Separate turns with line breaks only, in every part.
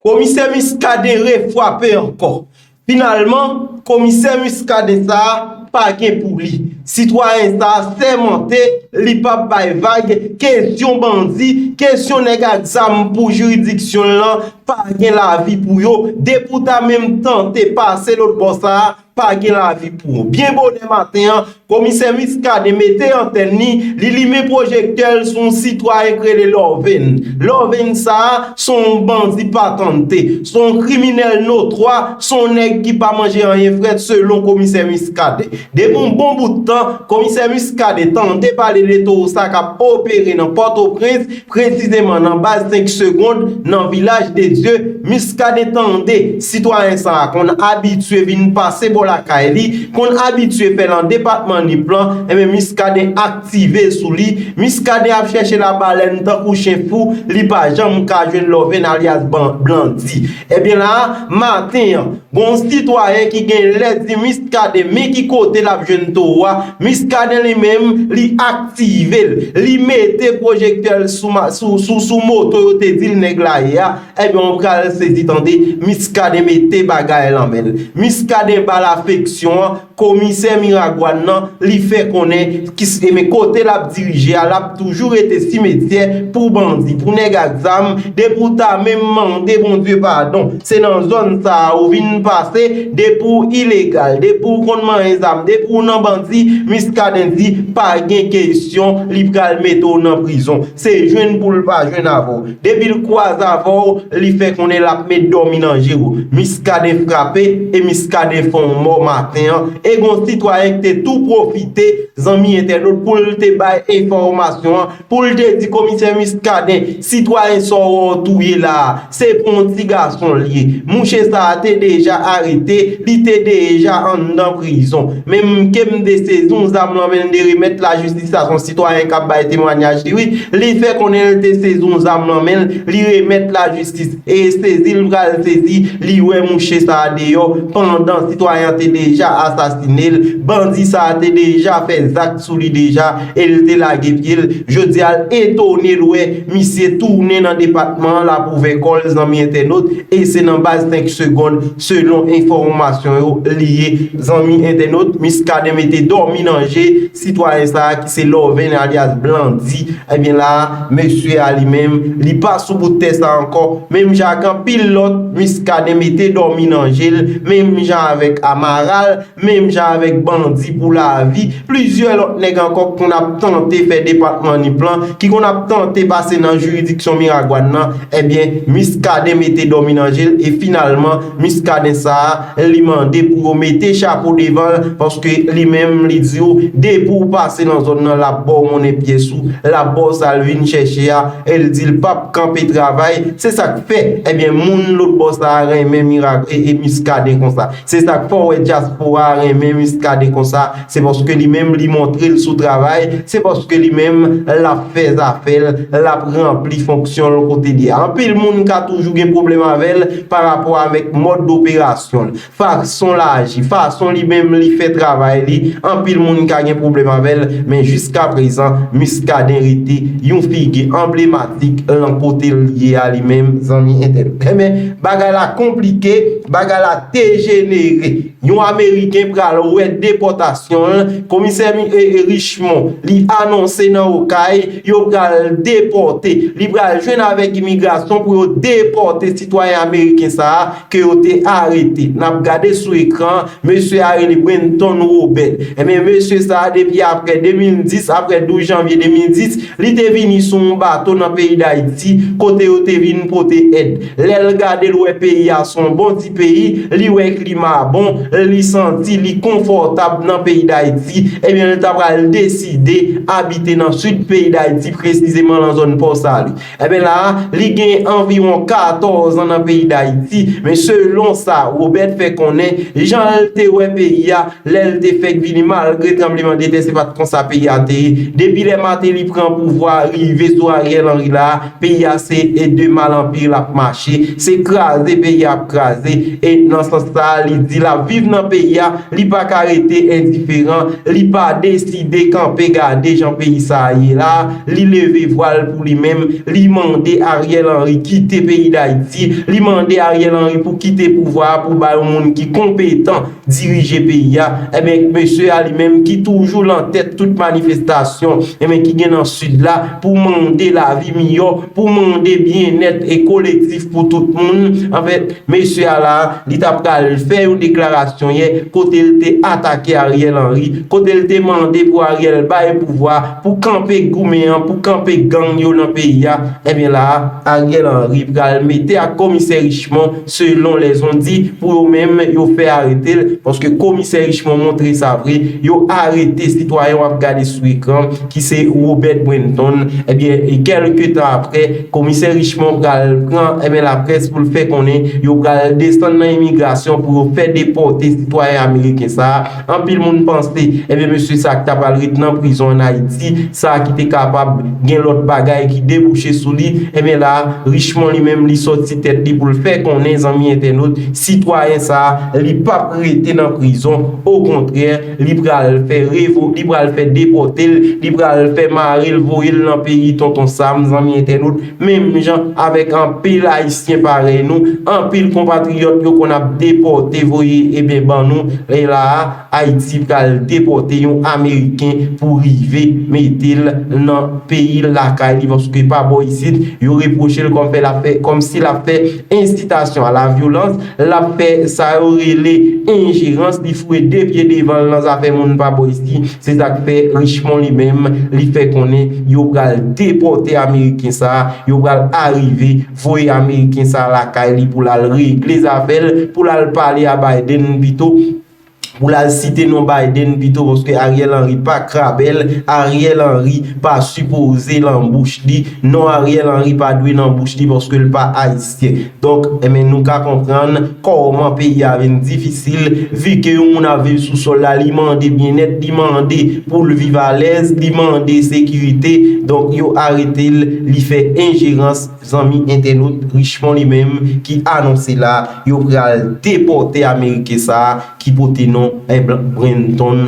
Komisè Muscadin refwape ankò. Finalman, komisè Muscadin sa a pa gen pou li. Sitwayen sa a sèmante li p ap bay vag kesyon bandi, kesyon nèg ak zam pou jiridiksyon l lan pa gen lavi pou yo depi w ta menm tante pase lotbò sa a Pa gen lavi pou ou. Byen bonè maten an, Komisè Muscadin mete antèn li, li limen pwojektè l sou yon sitwayen k rele Lorvin. Lorvin sa a, s on yon bandi patante. S on yon kriminèl notwa, s on yon nèg ki pa manje anyen frèt selon Komisè Muscadin. Depi yon bon bout tan, Komisè Muscadin tande pale de towo sa k ap opere nan Pòtoprens, Presizeman nan baz 5 segond nan Vilaj de Dye, Miskaden tande sitwayen sa a konn abitye vin pase bò lakay li, konn abitye fè nan depatman Nip lan, enben Miskaden aktive sou li, Miskaden ap chèche labalèn tankou chen fou, li pa janm ka jwenn Lòven alyas Blandy. Ebyen la a, maten an. Bon sitwayen ki gen lè di Miskaden men ki kote l ap jwenn towo a, Miskaden li menm li aktive l, li mete pwojektè l sou moto yo te di l nèg la ye a, enben w pral sezi tande Miskaden mete bagay lan men l. Miskaden ba l afeksyon an. Komisè Miragwàn nan li fè konnen kise men kote l ap dirije a l ap toujou rete simetyè pou bandi, pou nèg ak zam, depi w ta menm mande Bondye padon se nan zòn sa a ou vin pase, depi w ilegal, depi w konn manyen zam, depi w nan bandi, Miskaden di pa gen kesyon li pral mete w nan prizon. Se jwenn pou l pa jwenn avè w. Depi l kwaze avè w, li fè konnen l ap met dòmi nan je w. Muscadin frape e Muscadin fè w mò maten an e gen w sitwayen ki te tou pwofite, zanmi entènot, pou l te bay enfòmasyon an, pou l te di komisè Muscadin, sitwayen sa w wè w touye la a, Se on ti gason l ye. Mouche sa a te deja arete, li te deja anndan prizon. Men m ke m te sezi on zam lan men l de remèt lajistis la, s on sitwayen k ap bay temwanyaj li wi, li fè konnen l te sezi on zam lan men l, li remèt lajistis. E sezi l pral sezi, li wè mouche sa a deyò, pandan sitwayen an te deja asasine l, bandi sa a te deja fè zak sou li deja e l te lage pye l, jodi a l etone l wè. Misye tounen nan depatman an la pou ouvè kò l zanmi entènot e se nan baz 5 segond selon enfòmasyon yo li ye zanmi entènot Muscadin mete dòmi nan je sitwayen sa a ki se Lorvin alyas Blandy ebyen la a mesye a li menm li pa sou bout tè sa ankò menm jan ak anpil lòt Muscadin mete dòmi nan je l menm jan avèk Amaral. Menm jan avèk Bandi pou lavi, plizyè lòt nèg ankò k konn ap tante fè depatman Nip lan, ki konn ap tante pase nan jiridiksyon Miragwàn nan, ebyen Muscadin mete dòmi nan je l e finalman Muscadin sa a li mande pou yo mete chapo devan l paske li menm li di yo depi w pase nan zòn nan l ap ba w monnen pyès ou, l ap ba w sa l vin chèche a e l di l p ap kanpe travay, se sa k fè ebyen moun lotbò sa a renmen Muscadin konsa. Se sak fè w wè dyaspora a renmen Muscadin konsa, se paske li menm li montre l sou travay, se paske li menm l ap fè zafè l, l ap ranpli fonksyon l kote li a. Anpil moun ka toujou gen pwoblèm avè l pa rapò avèk mòd doperasyon l, fason l aji, fason li menm li fè travay li, anpil moun ka gen pwoblèm avè l, men jiskaprezan Muscadin rete yon figi anblematik. Vic lan kotel ye a li menm zanmi entèl enben bagay la konplike bagay la dejenere yon ameriken pral wè depòtasyon l komisè richemon li anonse nan okay yo pral depòte li pral jwenn avèk imigrasyon pou yo depòte sitwayen ameriken sa a ke yo te arete. N ap gade sou ekran an, mesye a rele Brenton Robert. Enben, mesye sa a depi apre 2010, apre 12 janvye 2010, li te vini sou yon bato nan peyi Dayiti, kote yo te vin pote èd. Lè l gade l wè peyi a s on bon ti peyi, li wè klima a bon, li santi li konfòtab nan peyi Dayiti, enben l ta pral deside abite nan Sid peyi Dayiti, presizeman nan zòn Pòsali. Enben la a, li gen anviwon 14 an nan peyi Dayiti, men selon sa Robert fè konnen, jan l te wè peyi a lè l te fèk vini malgre tranbleman de tè se pa t konsa peyi a te ye. Depi lè Martelly pran pouvwa a rive sou Ariel Henry la a, peyi a se e de mal an pi l ap mache, se kraze peyi a ap kraze e nan sans sa a li di l ap viv nan peyi a, li pa ka rete endiferan, li pa deside kanpe gade jan peyi sa a ye la a. Li leve vwa l pou li menm, li mande Ariel Henry kite peyi Dayiti, li mande Ariel Henry pou kite pouvwa a pou ba yon moun ki konpetan dirije peyi a, enben mesye a li menm ki toujou lan tèt tout manifestasyon enben ki gen nan Sid la pou mande lavi miyò, pou mande byennèt e kolektif pou tout moun, anfen mesye a la li ta pral fè yon deklarasyon yè kote l te atake Ariel Henry, kote l te mande pou Ariel bay pouvwa. Pou kanpe goumen an, pou kanpe gang yo nan peyi a, ebyen la a, Ariel Henry pral mete ak komisè Richemond selon lèzon di, pou yo menm yo fè arete l, paske komisè Richemond montre sa vre, yo arete sitwayen w ap gade sou ekran ki se Robert Brenton, ebyen kèlke tan aprè, komisè Richemond pral pran ebyen laprès pou l fè konnen yo pral desann nan imigrasyon pou yo fè depòte sitwayen ameriken sa a. Anpil moun panse, ebyen mesye sa ki ta pral ret nan prizon an Ayiti, sa ki te kapab gen lòt bagay ki debouche sou li, ebyen la, Richemond li menm li sòti tèt li pou l fè konnen zanmi entènot, sitwayen sa, li pa p rete nan prizon, okontrè, li pral fè revo, li pral fè depòte l, li pral fè mare l voye l nan peyi Tonton Sam, zanmi entènot. Menm jan avèk anpil Ayisyen parèy nou, anpil konpatriyòt yo konn ap depòte voye eben ban nou, lè la a, Ayiti pral depòte yon Ameriken pou rive mete l nan peyi l lakay li paske pa bò isit, yo repwoche l kòm fè l ap fè, kòm si l ap fè ensitasyon a la vyolans, l ap fè sa yo rele enjerans, li foure de pye devan l nan zafè moun pa bò isit. Se sa k fè Richemond li menm li fè konnen yo pral depòte ameriken sa, yo pral arive voye ameriken sa lakay li pou l al regle zafè l, pou l al pale a Biden pito, pou l al site non Biden pito paske Ariel Henry pa krabèl, Ariel Henry pa sipoze lan bouch li, non Ariel Henry pa dwe nan bouch li paske l pa Ayisyen. Ayisyen. Donk, enben nou ka konprann kòman peyi a vin difisil, vi ke yon moun ap viv sou sòl la, li mande byennèt, li mande pou l viv alèz, li mande sekirite, donk yo arete l, li fè enjerans, zanmi entènot Richemond li menm ki anonse la, yo pral depòte ameriken sa a ki pote non Ebl Brenton.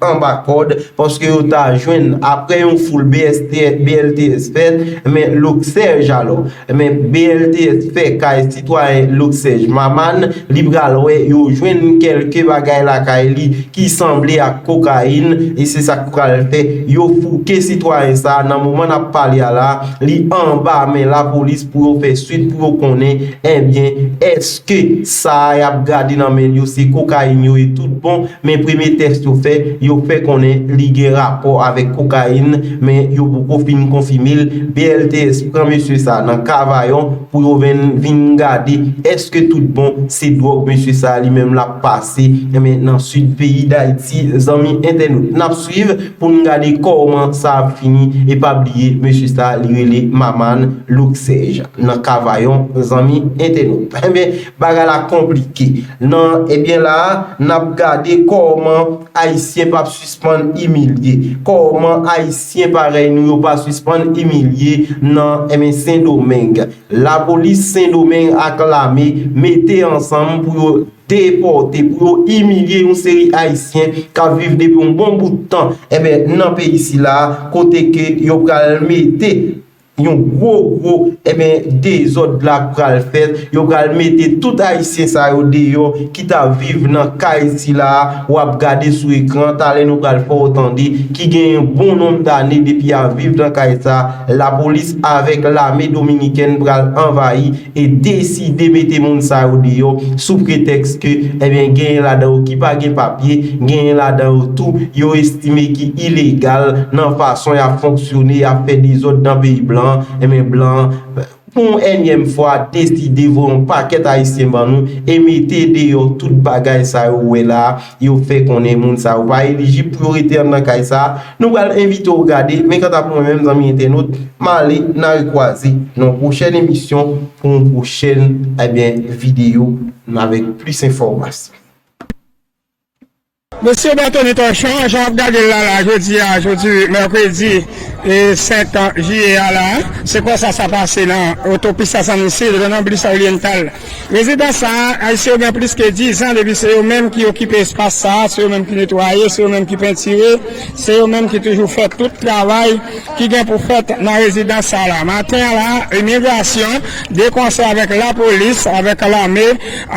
anba kòd paske yo ta jwenn aprè yon foul BLTS fèt men Luxège alò men BLTS fè kay sitwayen Luxège Maman li pral wè yo jwenn kèlke bagay lakay li ki sanble ak kokayin e se sak pral fè yo fouke sitwayen sa nan moman nap pale a la li anba men lapolis pou yo fè swit pou yo konnen ebyen eske sa yap gade nan men yo se kokayin yo ye tout bon. Men premye tès yo fè, yo fè konnen li gen rapò avèk kokayin, men yo poko fin konfime l, BLTS pran mesye sa nan Kavayon pou yo vin gade èske tout bon se dwòg mesye sa li menm lap pase nan sid peyi Dayiti zanmi entènot nap swiv pou n gade kòman sa ap fini e pa bliye mesye sa li rele Maman Loksèj nan Kavayon zanmi entènot. Bagay la konplike nan ebyen la a nap gade kòman ayisyen pap sispann imilye kòman ayisyen parèy nou yo pa sispann imilye nan ebyen sendomeng lapolis sendomeng ak lame mete ansanm pou yo depòte pou yo imilye yon seri ayisyen kap viv depi yon bon bout tan ebyen nan peyi sila kote ke yo pral mete Yon gwo gwo eben dezòd la pral fèt, yo pral mete tout ayisyen sa yo deyò ki ta viv nan kay sila a wap gade sou ekran talè nou pral fè w tande ki gen yon bon nonb dane depi ya viv nan kay sa lapolis avèk lame dominikèn pral anvayi e deside mete moun sa yo deyò sou pretèks ke ebyen genyen ladan yo ki pa gen papye, genyen ladan yo tou yo estime ki ilegal nan fason y ap fonksyone, y ap fè dezòd nan peyi blan an, ebyen blan an pou yon ènyèm fwa deside voye yon pakèt ayisyen ban nou e mete deyò tout bagay sa yo ou wè la a. Yo fè konnen moun sa yo pa elijib pou yo rete anndan kay sa a. Nou pral envite w gade, men kanta pou mwen menm zanmi entènot, m ale n a rekwaze nan yon pwochèn emisyon pou yon pwochèn ebyen videyo avèk plis enfòmasyon.
Mesye Berthony Torchon, jan w ap gade l la la jodi a, jodi mèkredi 5 jiyè a la, se konsa sa pase nan otopis Sasanmi Sid, nan blis Oriental. Rezidan sa a, Ayisyen yo gen plis ke dizan depi se yo menm ki okipe espas sa a, se yo menm ki netwaye, se yo menm ki pentire, se yo menm ki toujou fè tout travay ki gen pou fèt nan rezidans sa la. Maten an la, imigrasyon, de konsè avèk lapolis, avèk lame,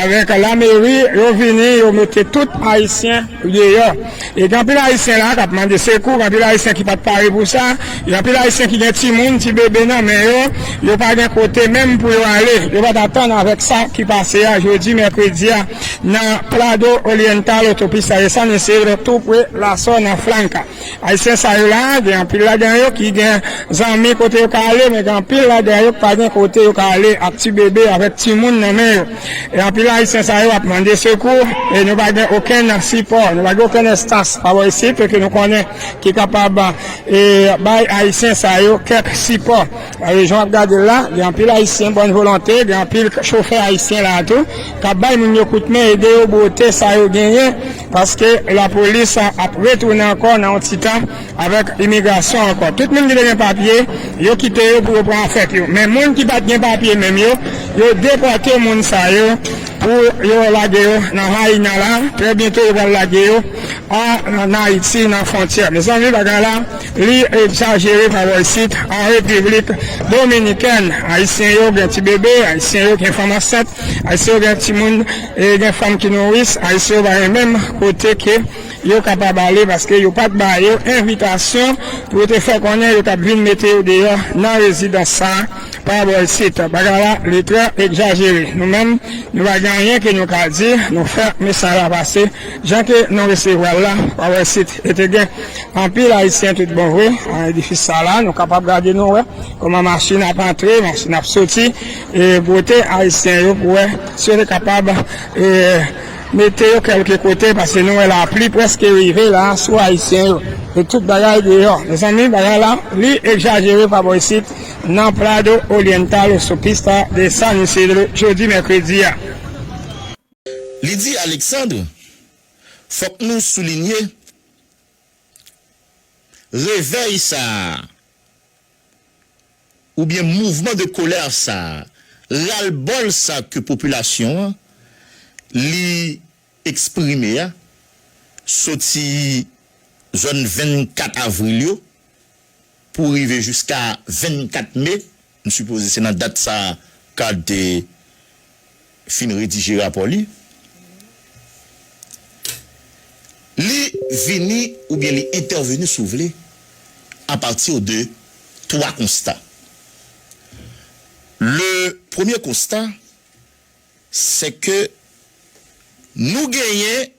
avèk lameri, yo vini, yo mete tout Ayisyen deyò. E gen anpil Ayisyen la a k ap mande sekou, gen anpil Ayisyen ki pa t pare pou sa, gen anpil Ayisyen ki gen timoun, ti bebe nan men yo, yo pa gen kote menm pou yo ale. Yo pa t atann avèk sa ki pase a jodi mèkredi a nan Prado Oriental, Autopista de San Isidro, tou pre La Zona Franca. Ayisyen sa yo la a, gen anpil ladan yo ki gen zanmi kote yo ka ale, men gen anpil ladan yo ki pa gen kote yo ka ale ak ti bebe, avèk timoun nan men yo. E anpil ayisyen sa yo ap mande sekou e nou pa gen okenn sipò, nou pa gen okenn enstans pa bò isit ke nou konnen ki kapab bay ayisyen sa yo kèk sipò. E jan w ap gade l la, gen anpil ayisyen bòn volonte, gen anpil chofè ayisyen la a tou k ap bay moun yo kout men, ede yo bwote sa yo genyen paske lapolis ap retounen ankò nan yon ti tan. Avèk imigrasyon ankò, tout moun ki te gen papye, yo kite yo pou yo pran fèt yo. Men moun ki pa t gen papye menm yo, yo depòte moun sa yo pou yo lage yo nan Haina la. Trè byento yo pral lage yo an Ayiti nan fwontyè. Mezanmi bagay la li egzajere pa bò isit. An Repiblik Dominikèn, Ayisyen yo gen ti bebe, Ayisyen yo gen fanm ansent, Ayisyen yo gen timoun e gen fanm ki nouris. Ayisyen yo pa gen menm kote ke Yo kapab ale paske yo pa t ba yo envitasyon pou yo te fè konnen yo t ap vin mete yo deyò nan rezidans sa a pa bò isit. Bagay la li twò egzajere. Nou menm, nou pa gen anyen ke nou ka di, nou fè mesaj la pase jan ke nou resevwa l la pa bò isit. E te gen anpil Ayisyen tout bon vre nan edifis sa la. Nou kapab gade nou wè kòman machin ap antre, machin ap soti e bwote Ayisyen yo pou wè si yo te kapab. Mete yo kelke kote paske nou wè lapli preske rive la sou ayisyen yo e tout bagay deyò mezanmi bagay la li egzajere pa bò isit nan Prado Oriental Autopista de San Isidro jodi mèkredi a. Li
di Alexandre, Fòk nou soulinye revèy sa a. oubyen mouvman de kolè sa, ralbòl sa ke popilasyon an li eksprime a soti zòn 24 avril yo pou rive jiska 24 me, m sipoze se nan dat sa card te fin redije rapò li, li vini oubyen li entèveni si w vle a pati de twa konsta. Le premye konsta se ke nou genyen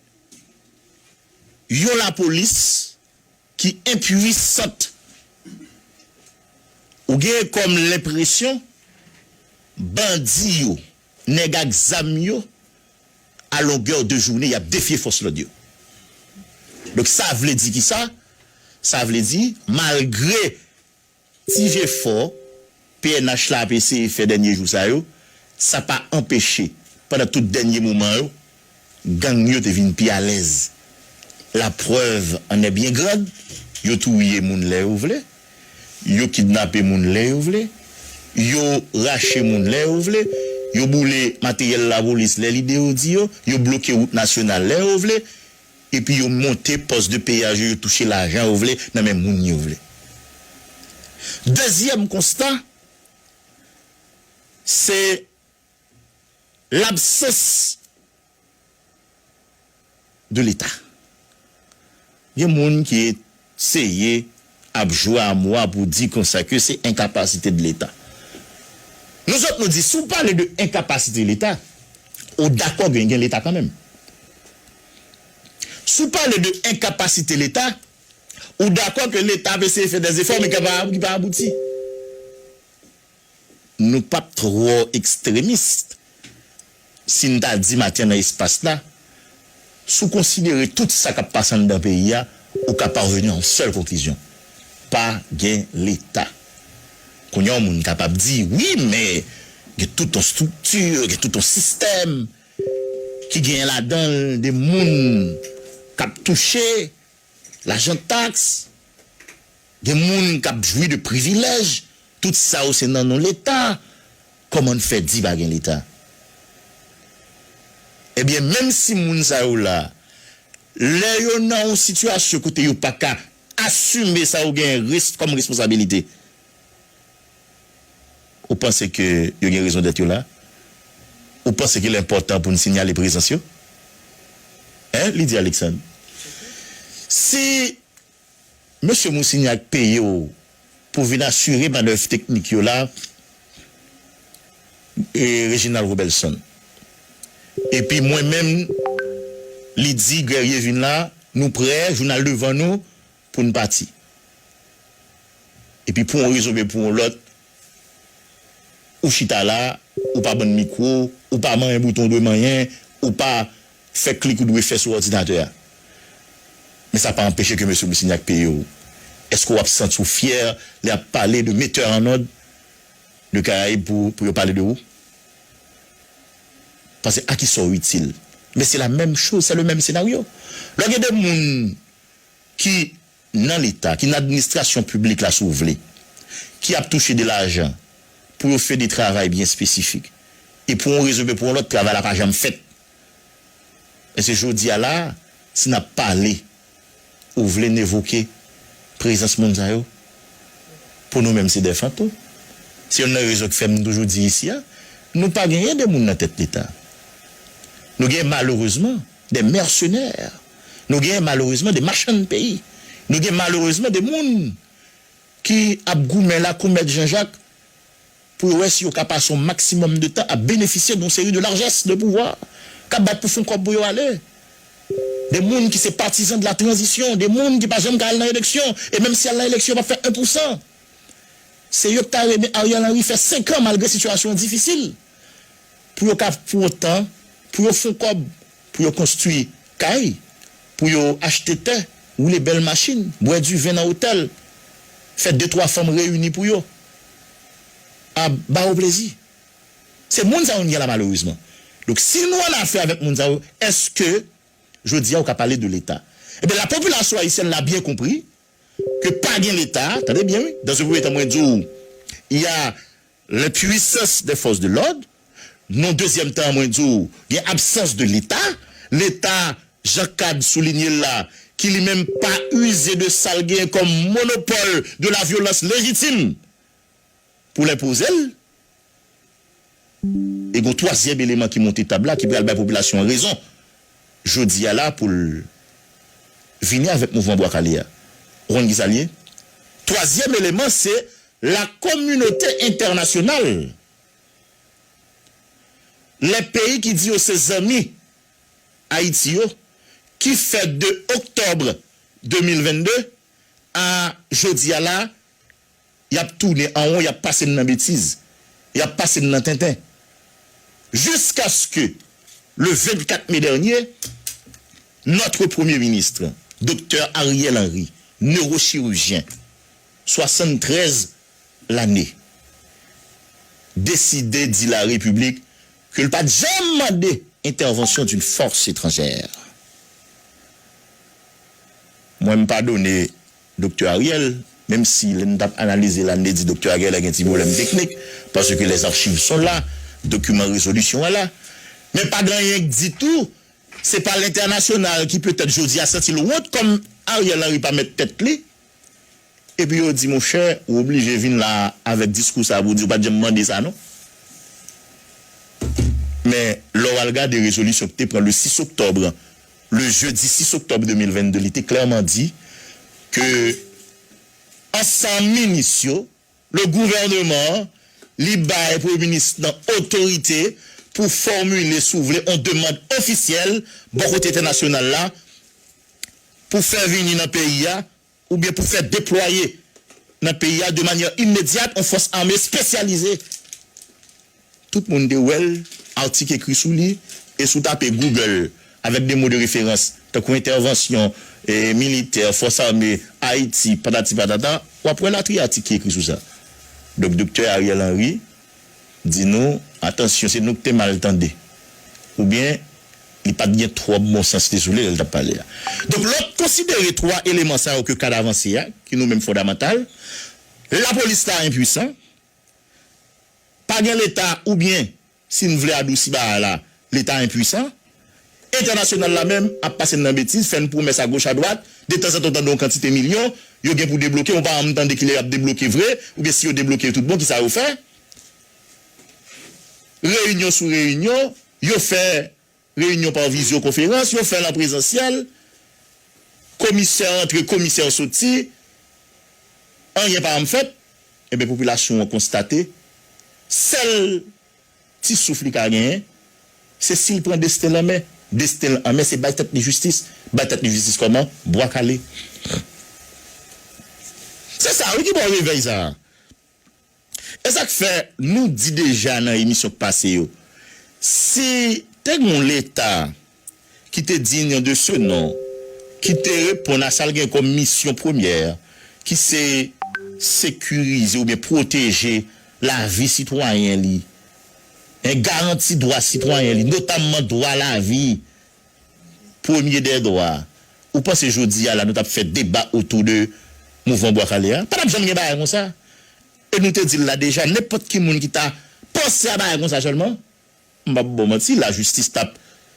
yon lapolis, Ki enpuisant. Ou gen kòm lenpresyon bandi yo, nèg ak zam yo, a longè de joune y ap defye fòs lòd yo. Donk sa vle di kisa? Sa vle di malgre Ti jefò pnh la ap eseye fè dènye jou sa yo, sa pa anpeche pandan tout dènye moman yo, gang yo te vin pi alèz. La preuve en est bien grande, yo touye moun lè yo vle, yo kidnape moun lè yo vle, yo rache moun lè yo vle, yo boule materyèl lapolis lè lide yo di yo, yo bloke wout nasyonal lè yo vle, Epi yo monte pòs de peyaj yo, yo touche lajan yo vle nan men moun yo vle. Dezyèm konsta, se labsans de leta. Gen moun ki. Seye ap jwe a mwa pou di konsa ke se enkapasite de leta. Nou zot nou di si w pale de enkapasite leta, ou dakò gen gen leta kanmenm. Si w pale de enkapasite leta, ou dakò ke leta ap eseye fè dè zefò men ki pa abouti. nou p ap twò ekstremis si n ta di maten nan espas la, si w konsidere tout sa k ap pase anndan peyi a, ou ka paveni a yon sèl konklizyon, pa gen Leta. Kounye a yon moun kapab di, wi men gen tout yon estrikti, gen tout yon sistèm ki genyen ladan l de moun k ap touche, Lajan tax, gen moun kap jwi de privilèj, tout sa yo se nan non leta, kòman n fè di pa gen leta? Ebyen menm si moun sa yo la, lè yo nan yon sitiyasyon kote yo paka asime sa yo genyen kòm responsabilite. Ou panse ke yo gen rezon dèt yo la? Ou panse ke l enpòtan pou n sinyale prezans yo? Hein? li di Aleksann. Si Mesye Mousignac peye w pou vin asire manèv teknik yo la, Reginald Robelson, epi mwen menm, li di Guerrier vin la, nou prè, jounal devan nou, Pou n pati. Epi pou yon rezon oubyen pou yon lòt, ou chita la, ou pa ban n mikwo, ou pa manyen bouton ou dwe manyen, ou pa fè klik ou dwe fè sou òdinatè a. Men sa pa anpeche ke Mesye Brissignac peye w. Èske w ap santi w fyè lè y ap pale de Metteur en Ordre de Caraïbes pou yo pale de ou? Pase a ki sa w itil? Men se la menm choz, sè le menm senaryo. Lè w gen de moun ki nan leta, ki nan administrasyon piblik la si w vle, ki ap touche de lajan pou yo fè de travay byen espesifik e pou yon rezon oubyen pou yon lòt travay la pa janm fèt. Èske jodi a la a, si n ap pale, ou vle n evoke prezans moun sa yo? Pou nou menm se de fantom. Se yonn nan rezon ki fè m toujou di isi a, nou pa genyen de moun nan tèt leta. Nou genyen malerezman De mèsenè, nou gen malerezman de machann peyi, nou gen malerezman de moun ki ap goumen lakou mèt Janjak pou yo wè si yo ka pase yon maksimòm de tan ap benefisye de yon seri de larjès de pouvwa k ap bat pou fon kòb pou yo ale, de moun ki se patizan de la tranzisyon, de moun ki pa janm ka al nan eleksyon e menm si y al nan eleksyon yo p ap fè 1 pou 100. Se yo k ta renmen Ariel Henry fè 5 an malgre sitiyasyon an difisil. pou yo ka pwan tan pou yo fon kòb pou yo konstwi kay pou yo achte tè woule bèl machin bwè du vin nan otèl fè de twa fanm reyini pou yo ab ba yo plezi se moun sa yo nou gen la malerezman donk si nou an afè avèk moun sa yo eske jodi a ou ka pale de leta ebyen la popilasyon ayisyèn la byen konpri ke pa gen leta tande byen wi dans un premier tan mwen di w ya. L'impuissance des forces de l'ordre, non dezyèm tan an mwen di w gen absans de leta, leta jan Cade soulinye l la ki li menm pa uze de sa l genyen kòm monopole de la violence légitime pou l enpoze l. E gen yon twazyèm eleman ki monte tab la ki pral bay popilasyon an rezon jodi a la pou l vini avèk mouvman Bwa Kale a. Ou konn ki sa l ye? Twazyèm eleman se lakominote entènasyonal. Lè peyi ki di yo se zanmi Ayiti yo ki fè de oktòb 2022 a jodi a la, Y ap tounen an won, y ap pase n nan betiz, y ap pase n nan tenten. Jiskaske le 24 me dènye, nòtre premye minist, doktè Ariel Henry, newochirijyen, 73 lane, deside di la Repiblik ke l pa t janm mande entèvansyon d'un fòs etranjè. Mwen m padone Doktè Ariel, menm si lè n t ap analize la n te di Doktè Ariel la gen ti pwoblèm teknik, paske les archives sont là, dokiman rezolisyon an la. Men pa gen anyen k di tou, se pa lentènasyonal ki petèt jodi a santi l wont kòm Ariel Henry pa mèt tèt li, epi yo di monchè ou oblije vin la avèk diskou sa a pou w di yo pa t janm mande sa non. Men lè w al gade rezolisyon ki te pran le 6 oktòbre le jedi 6 oktòb 2022, li te klèman di ke ansanm minis yo, le gouvèneman an, li bay premye minis nan otorite pou fòmile si w vle yon demand ofisyèl bò kote entènasyonal la pou fè vini nan peyi a oubyen pou fè deplwaye nan peyi a de manyè imedyat on fòs ame spesyalize tout moun te wè l atik ekri sou li e si w tape Google avèk de mo de referans tankou entèvansyon militè fòs ame Ayiti patati patata w ap wè latriye atik ki ekri sou sa donk Doktè Ariel Henry. di nou, atansyon se nou ki te mal tande oubyen li pa t gen twòp bon sans li sou li lè l t ap pale a. Donk lè w ap konsidere twa eleman sa yo ke kad avanse a ki nou menm fondamantal, lapolis la enpuisan, pa gen leta oubyen si n vle adousi bagay la Leta enpuisan, entènasyonal la menm ap pase n nan betiz, fè n pwomès a goch a dwat, detanzantan w tande yon kantite milyon yo gen pou debloke, ou pa janm tande kilè y ap debloke vre, oubyen si yo debloke tout bon kisa yo fè. Reyinyon sou reyinyon, yo fè reyinyon pa vizyo konferans, yo fè l an prezansyèl, komisè antre, komisè soti, anyen pa janm fèt, enben popilasyon an konstate sèl. Ti souf li ka genyen, se si l pran desten l an men. Desten l an men se bay tèt li jistis. Bay tèt li jistis kòman? Bwa kale. Se sa wi ki ba w revèy sa a. E sa k fè nou di deja nan emisyon k pase yo, si te gen yon Leta ki te dign de ce nom, ki te reponn a sa l gen kòm misyon premyè, ki se sekirize oubyen pwoteje lavi sitwayen li, en garanti dwa sitwayen li, notamman dwa lavi, premye dè dwa. Ou panse jodi a la nou t ap fè deba otou de mouvman Bwa Kale a? Pa t ap janm gen bagay konsa. E nou te di l la deja, nenpòt ki moun ki ta panse a bagay konsa sèlman, M pap baw manti la justice tap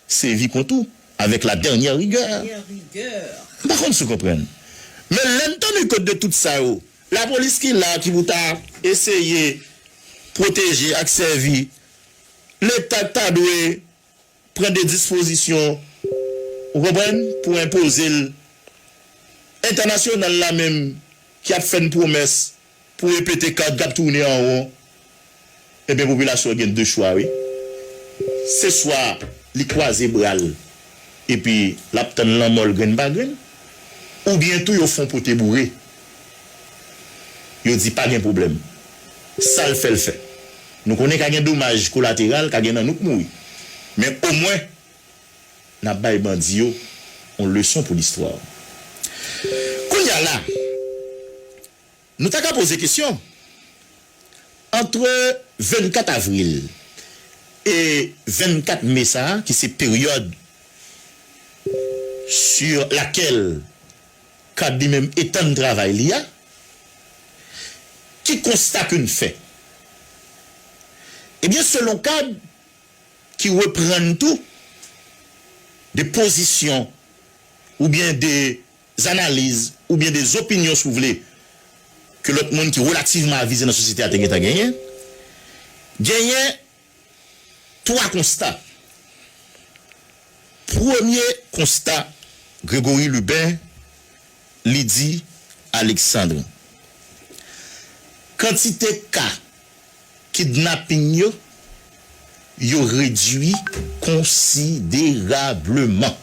sevi kont ou avek la dernière rigueur. M pa konn si w konprann. Men lè n tande kont de tout sa yo la police ki la ki pou ta eseye pwoteje ak sèvi leta ta dwe pran de dispozisyon ou konprann pou enpoze l entènasyonal la menm ki ap fè n pwomès Pou repete kad kap toune an won ebyen popilasyon gen 2 chwa wi se swa li kwaze bral epi lap tann lanmòl grenn pa grenn oubyen tou yo fon pote boure yo di pa gen pwoblèm sal fèl fè nou konnen ka gen domaj kolateral ka gen nan nou k mouri men omwen nap bay bandi yo on leson pou listwa kounya la. Nou ta ka poze kesyon, antre 24 avril e 24 me sa a, ki se peryòd sur lakèl cad li menm etann travay li a, ki konsta ke n fè? Ebyen, selon cad, ki reprann tou de pozisyon oubyen de zanaliz oubyen de zopinyon si w vle ke lòt moun ki relativman avize nan sosyete a te gentan genyen, genyen twa konsta. Premye konsta Grégory Lubin li di Alexandre, kantite ka Kidnaping yo yo redui konsiderableman.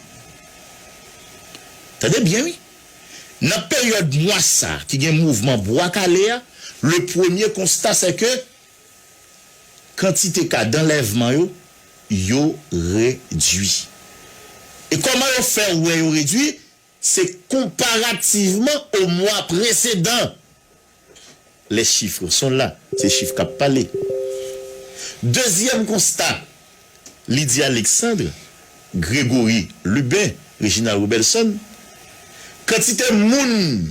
Tande byen wi. Nan peryòd mwa sa ki gen mouvman Bwa Kale a, le premye konsta sè ke kantite ka danlèvman yo, yo redui. E kòman yo fè wè yo redui? Se konparativman o mwa presedan. Les chiffres sont là, se chif kap pale. Dezyèm konsta, Lydie Alexandre, Gregory Lubin, Reginald Robelson, kantite moun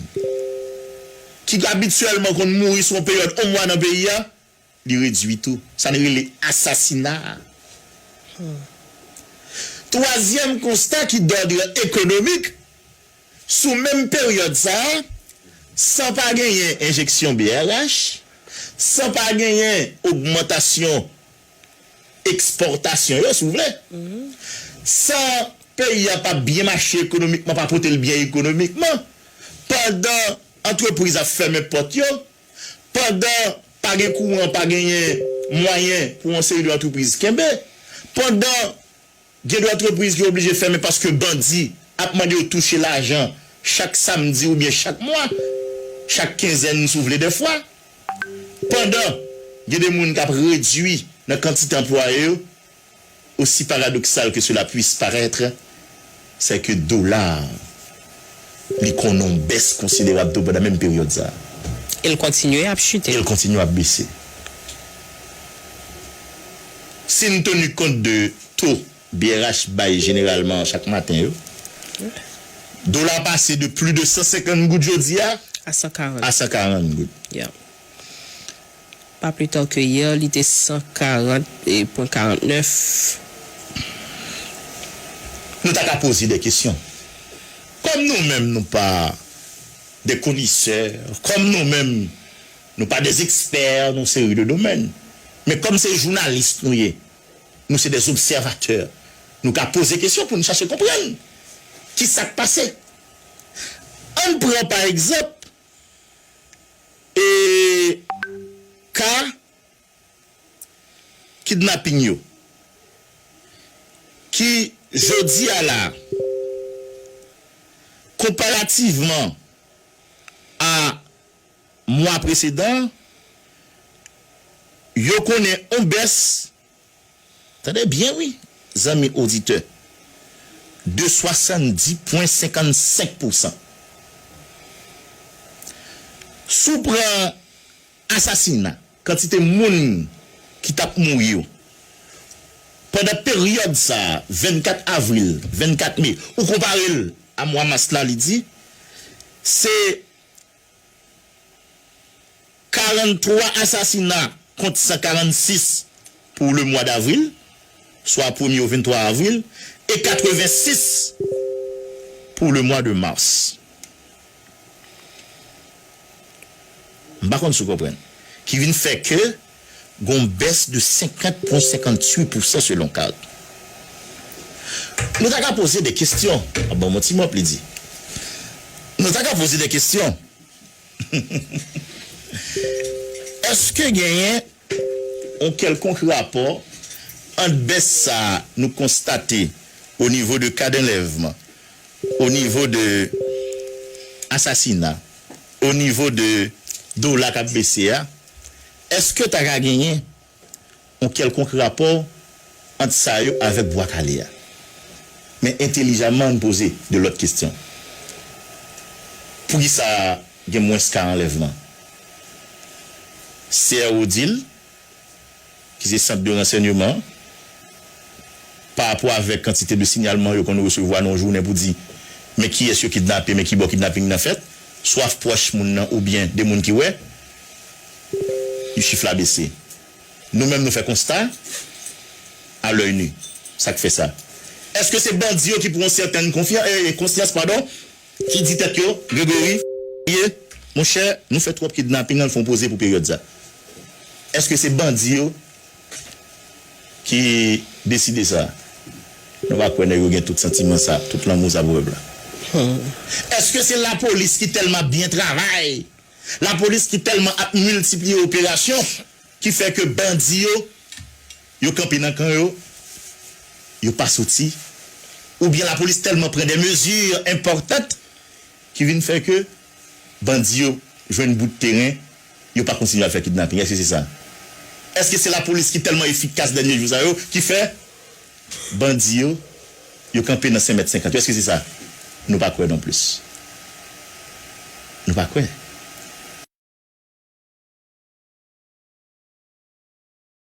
ki abityèlman konn mouri sou yon peryòd on mwa nan peyi a, Li redui tou sa n rele asasina a. Twazyèm konsta ki dòdre ekonomik, sou menm peryòd sa a, san pa genyen enjeksyon brh, san pa genyen ogmantasyon ekspòtasyon yo, si w vle, san peyi a pa byen mache ekonomikman, pa pote l byen ekonomikman, pandan antrepriz ap fèmen pòt yo, pandan pa gen kouran, pa genyen mwayen pou yon seri de antrepriz kenbe, pandan gen de antrepriz ki oblije fèmen paske bandi ap mande yo touche lajan chak samdi oubyen chak mwa, chak kenzèn si w vle dèfwa, pandan gen de moun k ap redui nan kantite anplwaye yo. Aussi paradoxal que cela puisse paraitre, c'est que dola a li konnen yon bès konsiderab tou pandan menm peryòd sa a. E l kontinye
ap chute. E l kontinye ap bese.
Si n tenu kont de to brh bay jeneralman chak maten yo, dola a pase de pli de 150 goud jodi a a
140 goud. Pa plus tard que hier li te 140.49.
Nou ta ka poze de kesyon. Kòm nou menm nou pa de konesè, kòm nou menm nou pa de ekspè nan seri de domèn, men kòm se jounalis nou ye, nou se de obsèvatè, nou ka poze kesyon pou nou chache konprann ki sa k pase. Ann pran pa egzanp e ka kidnapping yo ki jodi a la konparativman a mwa presedan yo konnen on bès. Tande byen wi zanmi oditè, de 70 pwen 55 pousan. Si w pran asasina, kantite moun ki t ap mouri yo, pandan peryòd sa, 24 avril, 24 me, ou konpare l a mwa mas la, li di, se 43 asasina kont 146 pou le mwa davril, swa premye ou 23 avril, e 86 pou le mwa de mas. M pa konn si w konprann. Ki vin fè ke. gon bès de 50 pwen 58 pousan selon Card. Nou ta ka poze de kestyon. Ap banm yon ti mòp li di. Nou ta ka poze de kestyon. Eske genyen yon kèlkonk rapò ant bès sa nou konstate o nivo de ka danlèvman, o nivo de asasina, o nivo de dola kap bese a? Èske ta ka genyen yon kèlkonk rapò ant sa yo avèk Bwa Kale a? Men entelijaman ann poze de lòt kestyon. Poukisa gen mwens ka anlèvman? CRO di l. ki se sant de ransègneman an, parapò avèk kantite de signalman yo konn resevwa nan yon jounen pou di men kiyès yo kidnape, men kibò kidnaping nan fèt, swa pwòch moun nan oubyen de moun ki wè, chif la bese. Nou menm nou fè konsta, a lòy nu, sa k fè sa? Èske se bandi yo ki pran yon sètèn konfyan, ee, konsyans, padon? Ki di tèt yo Gregory ye monchè nou fè twòp kidnaping al fon poze pou peryòd sa èske se bandi yo ki deside sa nou pa kwè nèg yo gen tout santiman sa tout lanmou sa pou pèp la èske se lapolis ki tèlman ap byen travay lapolis ki tèlman ap miltipliye operasyon ki fè ke bandi yo. Yo kanpe nan kan yo, yo pa soti, oubyen lapolis tèlman pran de mezi enpòtant ki vin fè ke bandi yo jwenn bout teren, yo pa kontinye al fè kidnaping? Èske se sa? Èske se lapolis ki tèlman efikas dènye jou sa yo ki fè bandi yo, yo kanpe nan 5 mèt 50 yo? Èske se sa? Nou pa kwè non plis. Nou pa kwè.